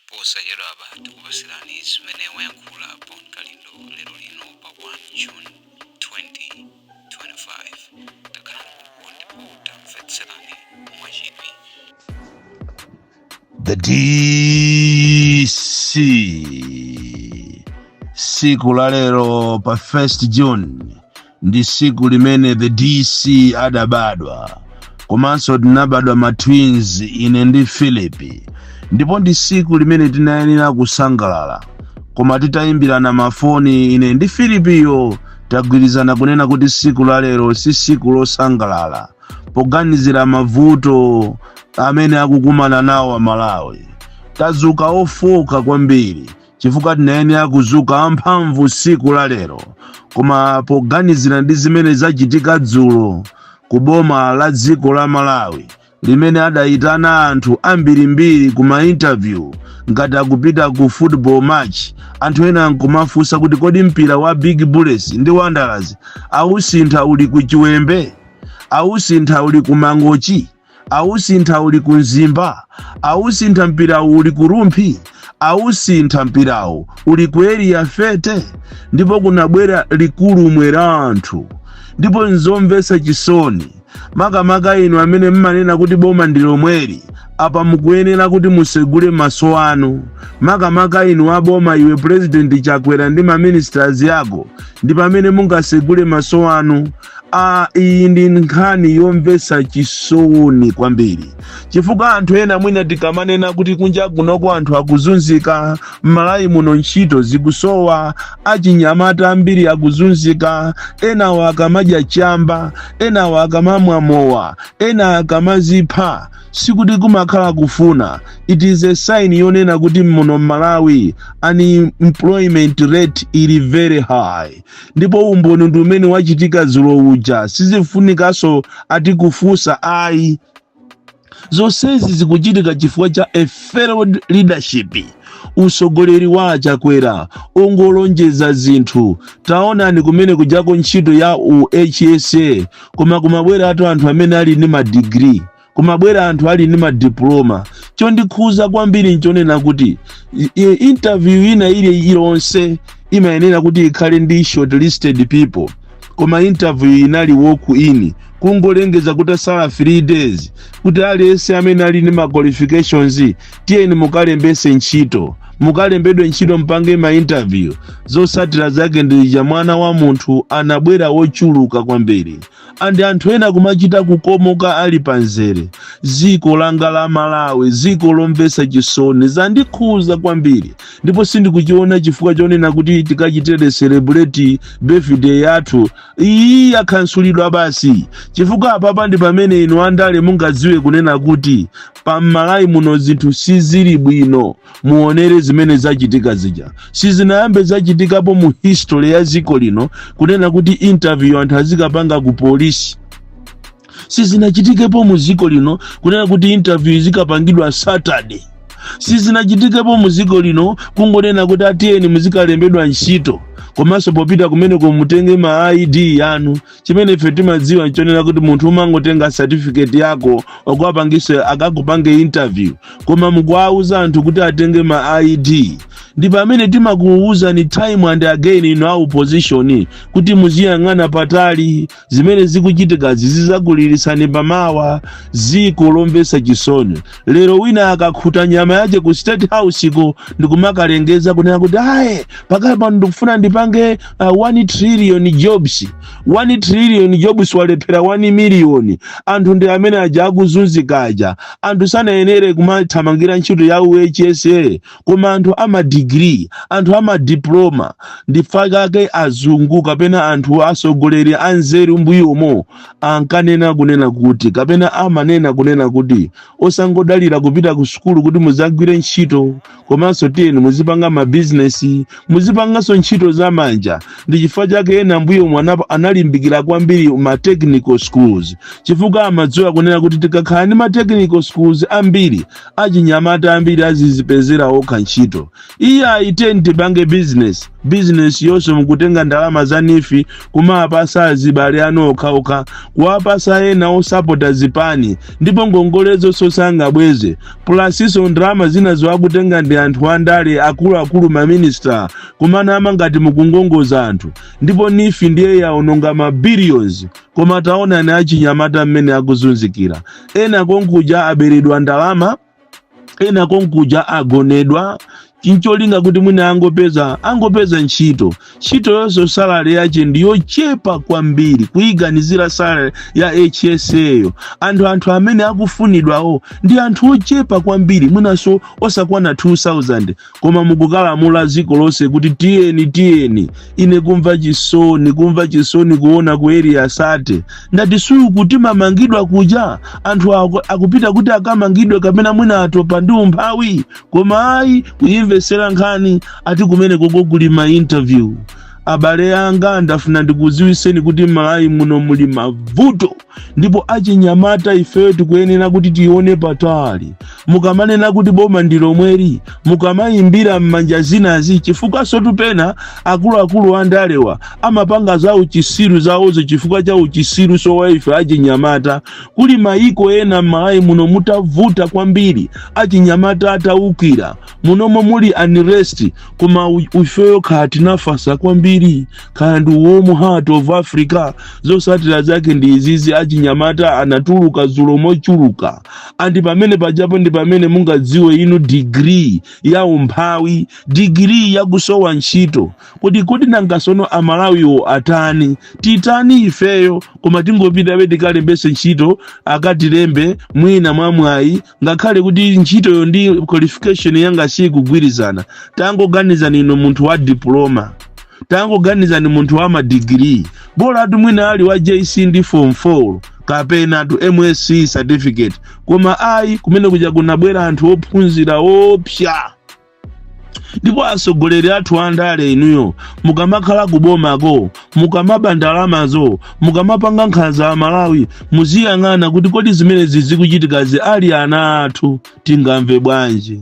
posachedwapa tikupatsirani zimene wayankhula bon kalindo lero lino pa 1 june 2025 takhalani ndipo tamvetserani mwachidwi The DC siku la lero pa 1st June ndi siku limene the dc adabadwa komanso tinabadwa ma twins ine ndi philip ndipo ndi siku limene tinayenera kusangalala koma titayimbirana mafoni ine ndi philipiyo tagwirizana kunena kuti siku la lero si siku losangalala poganizira mavuto amene akukumana nawo amalawi tazuka ofoka kwambiri chifukwa tinayenera kuzuka amphamvu siku la lero koma poganizira ndi zimene zachitika dzulo ku boma la dziko la malawi limene adayitana anthu ambirimbiri ku mainterview ngati akupita ku football match anthu ena nkumafunsa kuti kodi mpira wa big bullets ndi wanderers awusintha uli ku chiwembe awusintha uli ku mangochi Awusintha uli ku Mzimba? Awusintha mpirawu uli ku Rumphi? Awusintha mpirawu uli ku Area 30? Ndipo kunabwera likulumwe la anthu. Ndipo nzomvetsa chisoni, makamaka inu amene mmanena kuti boma ndi lomweli, apa mukuyenera kuti musegule mmaso anu. Makamaka inu a boma iwe President Chakwera ndi ma ministers yako ndi pamene mungasegule mmaso anu. a iyi ndi nkhani yomvetsa chisoni kwambiri chifukwa anthu ena mwina tikamanena kuti kunja kunoko anthu akuzunzika m'malawi muno ntchito zikusowa achinyamata ambiri akuzunzika enawa akamadya chamba enawa akamamwa mowa ena akamazipha sikuti kumakhala kufuna it is a sign yonena kuti muno m'malawi unemployment rate ili very high ndipo umboni ndi umene wachitika dzulo uja sizifunikanso ati kufunsa ayi zonsezi zikuchitika chifukwa cha a failed leadership usogoleri wa achakwera ongolonjeza zinthu taonani kumene kujako ntchito ya u hsa koma kumabwera atu anthu amene ali ndi madigiri kumabwera anthu ali ndi madiploma chondikhuza kwambiri nchonena kuti i- i- interview ina ili ilonse imayenera kuti ikhale ndi shortlisted people koma interview inali walk in kungolengeza kutasala 3 days kuti aliyense amene ali ndi ma qualifications tiyeni mukalembese ntchito mukalembedwe ntchito mpange ma interview zosatira zake ndija mwana wa munthu anabwera wochuluka kwambiri and anthu ena kumachita kukomoka ali panzere ziko langa la malawi ziko lomvesa chisoni zandikhuza kwambiri ndipo sindikuchiona chifukwa chonena kuti tikachitire celebrate birthday yathu iyi yakhansulidwa basi chifukwa apapa ndi pamene inu andale mungadziwe kunena kuti pamalawi muno zinthu sizili bwino muonere zimene zachitika zija sizinayambe zachitikapo mu history ya dziko lino kunena kuti interview anthu azikapanga ku polisi sizinachitikepo mu dziko lino kunena kuti interview izikapangidwa saturday sizinachitikepo mu dziko lino kungonena kuti ati tiyeni muzikalembedwa ntchito komanso popita kumeneko mutenge ma id yanu chimene ife timadziwa nchonena kuti munthu umangotenga certificate yako okupangise akakupange interview koma mukuwauza anthu kuti atenge ma id ndi pamene timakuwuzani time and again inu a opposition kuti muziyang'ana patali zimene zikuchitikazi zizakulirisani pamawa ziko lomvesa chisoni lero wina akakhuta nyama yache ku state house ko ndikumakalengeza kunena kuti aye pakali pano ndikufuna ndipange 1 trillion jobs 1 trillion jobs walephera 1 miliyoni anthu ndi amene aja akuzunzika aja anthu sanayenere kumathamangira ntchito ya hsa koma anthu amadigiri anthu amadiploma ndifakake azungu kapena anthu atsogoleri anzeru mbuyomo ankanena kunena kuti kapena amanena kunena kuti osangodalira kupita ku sukulu kuti muzagwire ntchito komanso tiyeni muzipanga mabizinesi muzipanganso ntchito za manja ndi chifukwa chake ena mbuyomu analimbikira kwambiri ma technical schools chifukwa amadziwa kunena kuti tikakhala ndi ma technical schools ambiri achinyamata ambiri azizipezera okha ntchito iyayi tiyeni tipange bizinesi bizinesi yonso mukutenga ndalama za nifi kumawapasa azibale anu okhaokha kuwapasa ena osapota zipani ndipo ngongolezo sosanabweze plus so ndalama zina zoakutenga ndi anthu andale akuluakulu maminista kumanama ngati mukungongoza anthu ndipo nifi ndiye yaononga mabilions koma taonani achinyamata mmene akuzunzikira ena konkuja aberedwa ndalama ena konkuja agonedwa chincholinga kuti mwina angopeza angopeza ntchito ntchito yonso salary yache ndiyochepa kwambiri kuyiganizira salary ya hsa yo anthu anthu amene akufunidwawo ndi anthu ochepa kwambiri mwinanso osakwana 2000 koma mukukalamulira dziko lonse kuti tiyeni tiyeni ine kumva chisoni kumva chisoni kuona ku area 30 ndati suyu kuti mamangidwa kuja anthu aku- akupita kuti akamangidwe kapena mwina atopa ndi umphawi koma ayi kuyimvetsera nkhani ati kumeneko ko kuli ma interview abale anga ndafuna ndikudziwitseni kuti malawi muno muli mavuto ndipo achinyamata ifeyo tikuyenera kuti tione patali mukamanena kuti boma ndi lomweli mukamayimbira m'manja zinazi chifukwanso tu pena akuluakulu andalewa amapanga za uchisiru zawozo chifukwa cha uchisiru sowa ife achinyamata kuli mayiko ena m'malawi muno mutavuta kwambiri achinyamata atawukira munomo muli unrest koma u- ifeyo kaya tinafasa kwambiri kaya ndi warm heart of africa zosatira zake ndi izizi achinyamata anatuluka zulo mochuluka a ndi pamene pajapo ndi pamene mungadziwe inu digiri ya umphawi digiri yakusowa ntchito kodi kodi nanga sono amalawiwo atani titani ifeyo koma tingopitabe tikalembese ntchito akatilembe mwina mwamwayi ngakhale kuti ntchitoyo ndi qualification yanga sikugwirizana tangoganizani inu munthu wa diploma tangoganizani munthu wa madigiri bolatu mwina ali wa jc ndi form 4 kapenatu msce certificate koma ayi kumene kuja kunabwera anthu ophunzira oopsa ndipo atsogoleri athu andale inuyo mukamakhala kubomako mukamaba ndalamazo mukamapanga nkhanza kwa amalawi muziyang'ana kuti kodi zimenezi zikuchitikazi ali ana athu tingamve bwanji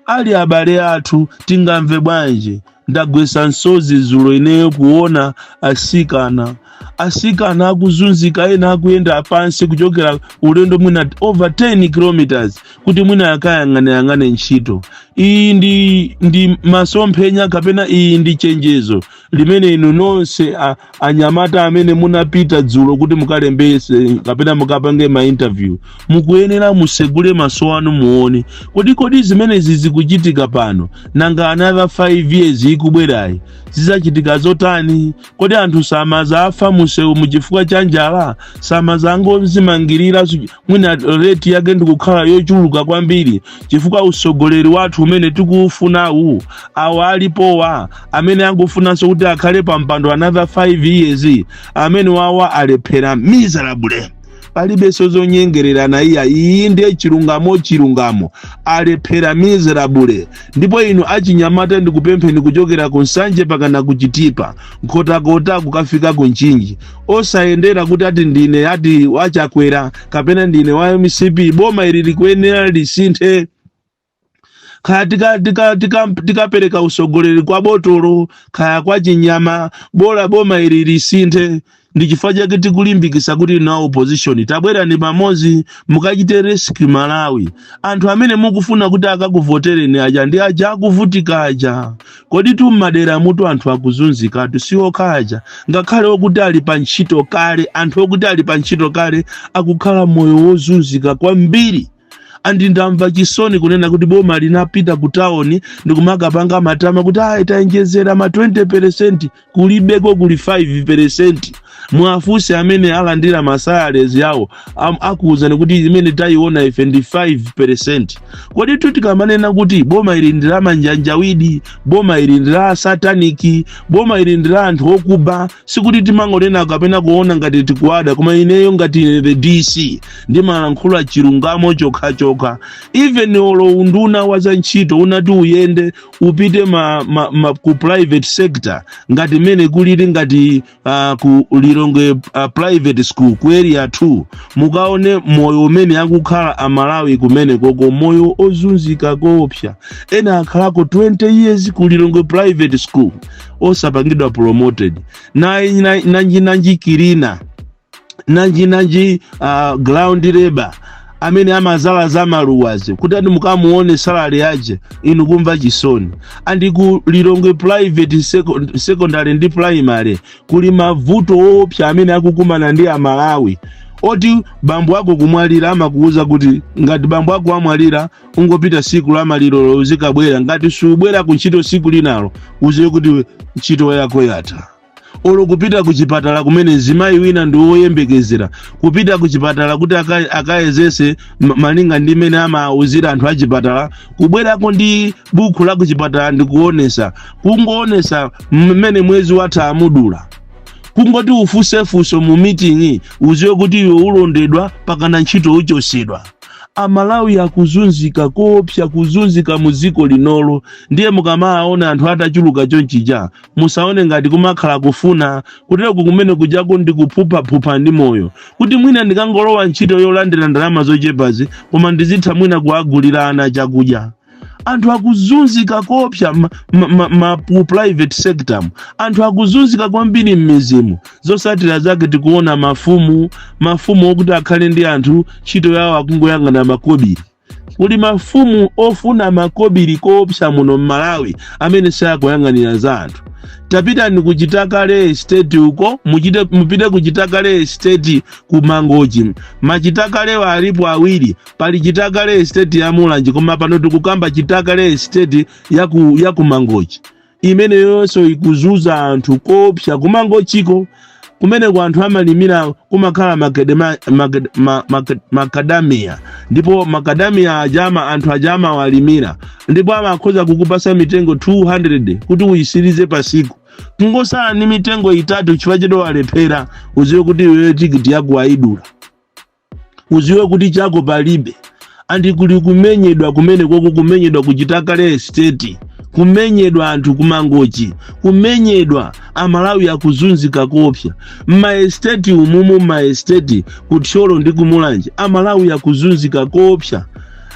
ali abale athu tingamve bwanji ndagwetsa msozi zulo ineyo kuona asikana asikana akuzunzika ena akuyenda pansi kuchokera ulendo mwina over 10 kilometers kuti mwina akayang'aneyang'ane ntchito iyi ndi, ndi masomphenya kapena iyi ndi chenjezo limene inu nonse a- anyamata amene munapita dzulo kuti mukalembese kapena mukapange ma interview mukuyenera musegule maso anu muone kodi kodi zimenezi zikuchitika pano nanga another 5 years ikubwerayi zizachitika zotani kodi anthu samazafa mumsewumu chifukwa cha njala samazangozimangirira su- mwina reti yake idzakhala yochuluka kwambiri chifukwa usogoleri wathu umene tikuufunawu awa alipowa amene akufunanso kuti akhale pa mpando another 5 years amenewa awa alephera miserable palibenso zonyengererana iya iyi ndiye chilungamo chilungamo alephera miserable ndipo inu achinyamata ndikupempheni kuchokera ku nsanje mpakana kuchitipa nkhotakota kukafika ku mchinji osayendera kuti ati ndine ati wachakwera kapena ndine wa mcp boma ili likuyenera lisinthe kaya tikapereka tika, tika, tika tikapereka usogoleri kwa botolo kaya kwa chinyama bola boma ili lisinthe ndi chifukwa chake tikulimbikisa kuti na opposition tabwerani pamodzi mukachite rescue malawi anthu amene mukufuna kuti akakuvotereni aja ndi aja akuvutika aja koditu mmaderamutu anthu akuzunzikatu si okha aja ngakhale okuti ali pa ntchito kale anthu okuti ali pa ntchito kale akukhala moyo wozunzika kwambiri andi ndamva chisoni kunena kuti boma linapita ku tawoni ndikumakapanga matama kuti ayi tayenjezera ma 20 peresenti kulibeko kuli 5 peresenti mwafunse amene alandira masalaries yawo am- akuwuzani kuti imene tayiona ife ndi 5 peresenti koditu tikamanena kuti boma ili ndi la manjanjawidi boma ili ndi la sataniki boma ili ndi la anthu okuba sikuti timangonena kapena kuona ngati tikuwada koma ineyo ngati ine the dc ndimalankhula chilungamo chokhachokha even olo unduna wa za ntchito unati uyende upite ma, ma, ma, ku private sector ngati mmene kulili ngati uh, ku lilongwe uh, private school ku area 2 mukaone moyo umene akukhala amalawi kumenekoko moyo ozunzika koopsa ena akhalako 20 years ku lilongwe private school osapangidwa promoted nanji na, nanji, nanji cleaner nanji nanji uh, ground labour amene amazala za maluwazi kuti ati mukamuone salary yache inu kumva chisoni andi ku lilongwe private seco- secondary ndi primary kuli mavuto oopsa amene akukumana ndi amalawi oti bambo ako kumwalira amakuwuza kuti ngati bambo ako amwalira ungopita siku la malirolo uzikabwera ngati subwera ku ntchito siku linalo uziwe kuti ntchito yako yatha olo kupita ku chipatala kumene mzimayi wina ndi woyembekezera kupita ku chipatala kuti aka- akayezese ma- malinga ndi mmene amauzira anthu a chipatala kubwerako ndi buku la ku chipatala ndi kuonesa kungoonesa mmene mwezi watha amudula kungoti ufuse funso mu meeting uziwe kuti iwe ulondedwa mpakana ntchito uchosedwa amalawi akuzunzika koopsa kuzunzika mu dziko linolo ndiye mukamaona anthu atachuluka chonchija musaone ngati kumakhala kufuna kutereku kumene kujaku ndi kuphuphaphupha ndi moyo kuti mwina ndikangolowa ntchito yolandira ndalama zochepazi koma ndizitha mwina kuagulira ana chakudya anthu akuzunzika koopsa ma, ma, ma, ma, ku private sectormu anthu akuzunzika kwambiri m'mizimu zosatira zake tikuona mafumu mafumu okuti akhale ndi anthu ntchito yawo akungoyang'ana makobiri kuli mafumu ofuna makobiri koopsa muno m'malawi amene sakuyang'anira za anthu tapitani ku chitakale estate uko muchite mupite ku chitakale estate ku mangochi machitakalewa alipo awiri pali chitakale estate ya mulanje koma pano tikukamba chitakale estate ya ku, ya ku mangochi imeneyonso ikuzuza anthu koopsa kumangochiko kumeneko anthu amalimira kumakhala makadema- makad- ma- makad- makadamiya ndipo makadamiya ajama anthu ajama amawalimira ndipo amakhoza kukupasa mitengo 200 kuti uyisirize pasiku kungosala ni mitengo itatu chifukwa chete walephera uziwe kuti iweyo tikiti yako wayidula uziwe kuti chako palibe andi kuli kumenyedwa kumene koko kumenyedwa kuchitakale estate kumenyedwa anthu kumangochi kumenyedwa amalawi akuzunzika koopsa mmaesteti umumu mmaesteti kuthyolo ndi kumulanje amalawi akuzunzika koopsa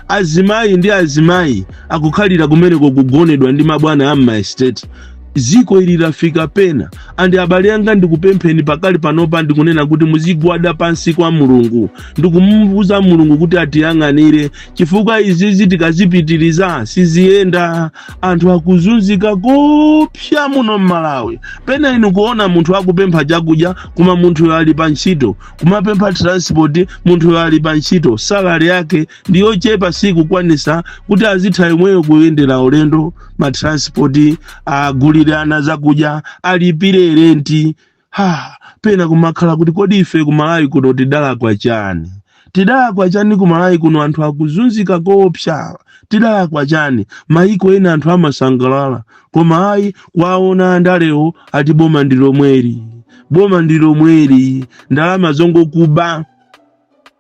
azimayi ndi azimayi akukhalira kumeneko kugonedwa ndi mabwana a mmaesteti Ziko ili lafika pena, andi abale anga, ndikupempheni pakali panopa, ndikunena kuti muzigwada pansi kwa Mulungu ndikumuuza Mulungu kuti atiyang'anire, chifukwa izizi tikazipitiriza siziyenda. Anthu akuzunzika koopsa muno m'Malawi. Pena inu kuona munthu akupempha chakudya, koma munthuyo ali pa ntchito, kumapempha transport, munthuyo ali pa ntchito, salary yake ndi yochepa sikukwanisa kuti azitha imweyo kuyendera ulendo ma transport agulire ana zakudya alipire renti ha pena kumakhala kuti kodi ife kumalawi kuno tidalakwa chani tidalakwa chani kumalawi kuno anthu akuzunzika koopsa tidalakwa chani maiko ena anthu amasangalala koma ayi kwaona andalewo ati boma ndi lomweli boma ndi lomweli ndalama zongokuba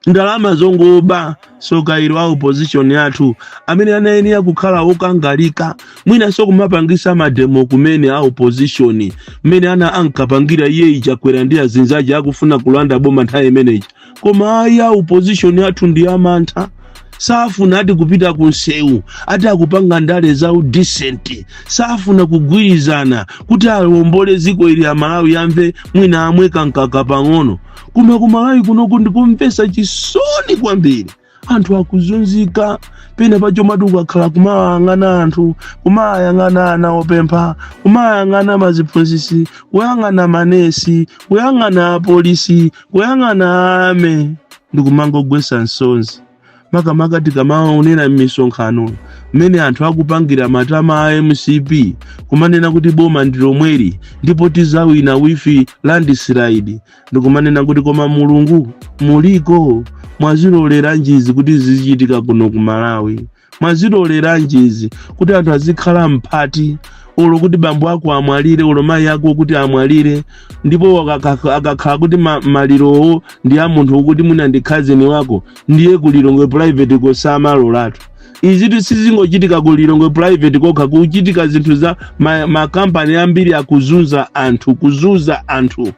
ndalama zongoba tsoka ilo a opposition yathu amene anayenera kukhala okangalika mwinanso kumapangisa mademo kumene a opposition mmene ana ankapangira iyeyu chakwera ndi azinzache akufuna kulanda boma nthawi imeneyi koma ayi a opposition athu ndi amantha safuna ati kupita ku nsewu ati akupanga ndale za udisenti safuna kugwirizana kuti awombole ziko ili amalawi amve mwina amwe kamkaka pang'ono koma kumalawi kunoku ndikumvesa chisoni kwambiri anthu akuzunzika pena pacho mati ukakhala kumawayang'ana anthu kumawayang'ana ana opempha kumawayang'ana maziphunzisi kuyang'ana manesi kuyang'ana apolisi kuyang'ana army ndikumangogwesa misozi makamaka tikamaonera m'misonkhano mmene anthu akupangira matama a mcp kumanena kuti boma ndi lomweli ndipo tizawina with landslide ndikumanena kuti koma mulungu muliko mwaziloleranji izi kuti zizichitika kuno ku malawi mwaziloleranji izi kuti anthu azikhala mphati olo kuti bambo ako amwalire olo mayi ako kuti amwalire ndipo akakha- akakhala kuti ma- malirowo ndi a munthu woti mwina ndi cousin wako ndiye ku lilongwe private koma samalolatu izitu sizingochitika ku lilongwe private kokha kuchitika zinthu za makampani ambiri akuzunza anthu kuzunza anthu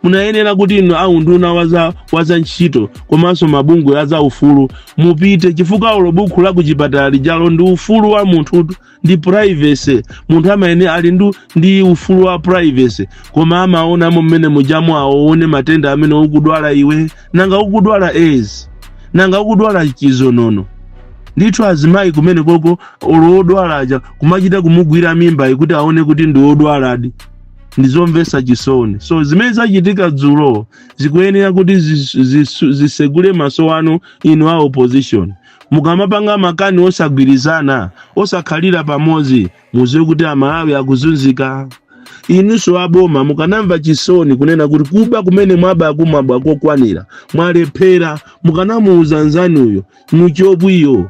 munayenera kuti inu aunduna waza, waza ntchito komanso mabungwe aza ufulu mupite chifukwa olo bukhu la kuchipatala lijalo ndi ufulu wa munthu ndi privacy munthu amene ali ndu ndi ufulu wa privacy koma amaonamo mmene mujamo aone matenda amene ukudwala iwe nanga ukudwala aids nanga ukudwala chizonono ndithu azimayi kumene koko olo odwala aja kumachita kumugwira mimbayo kuti aone kuti ndi odwaladi ndi zomvetsa chisoni so zimene zachitika dzulo zikuyenera kuti zis- zis- zisegule maso anu inu a opposition mukamapanga makani osagwirizana osakhalira pamodzi muziwe kuti amalawi akuzunzika inunso aboma mukanamva chisoni kunena kuti kuba kumene mwabaku mwaba kokwanira mwalephera mukanamuuza nzanuyo muchobwiyo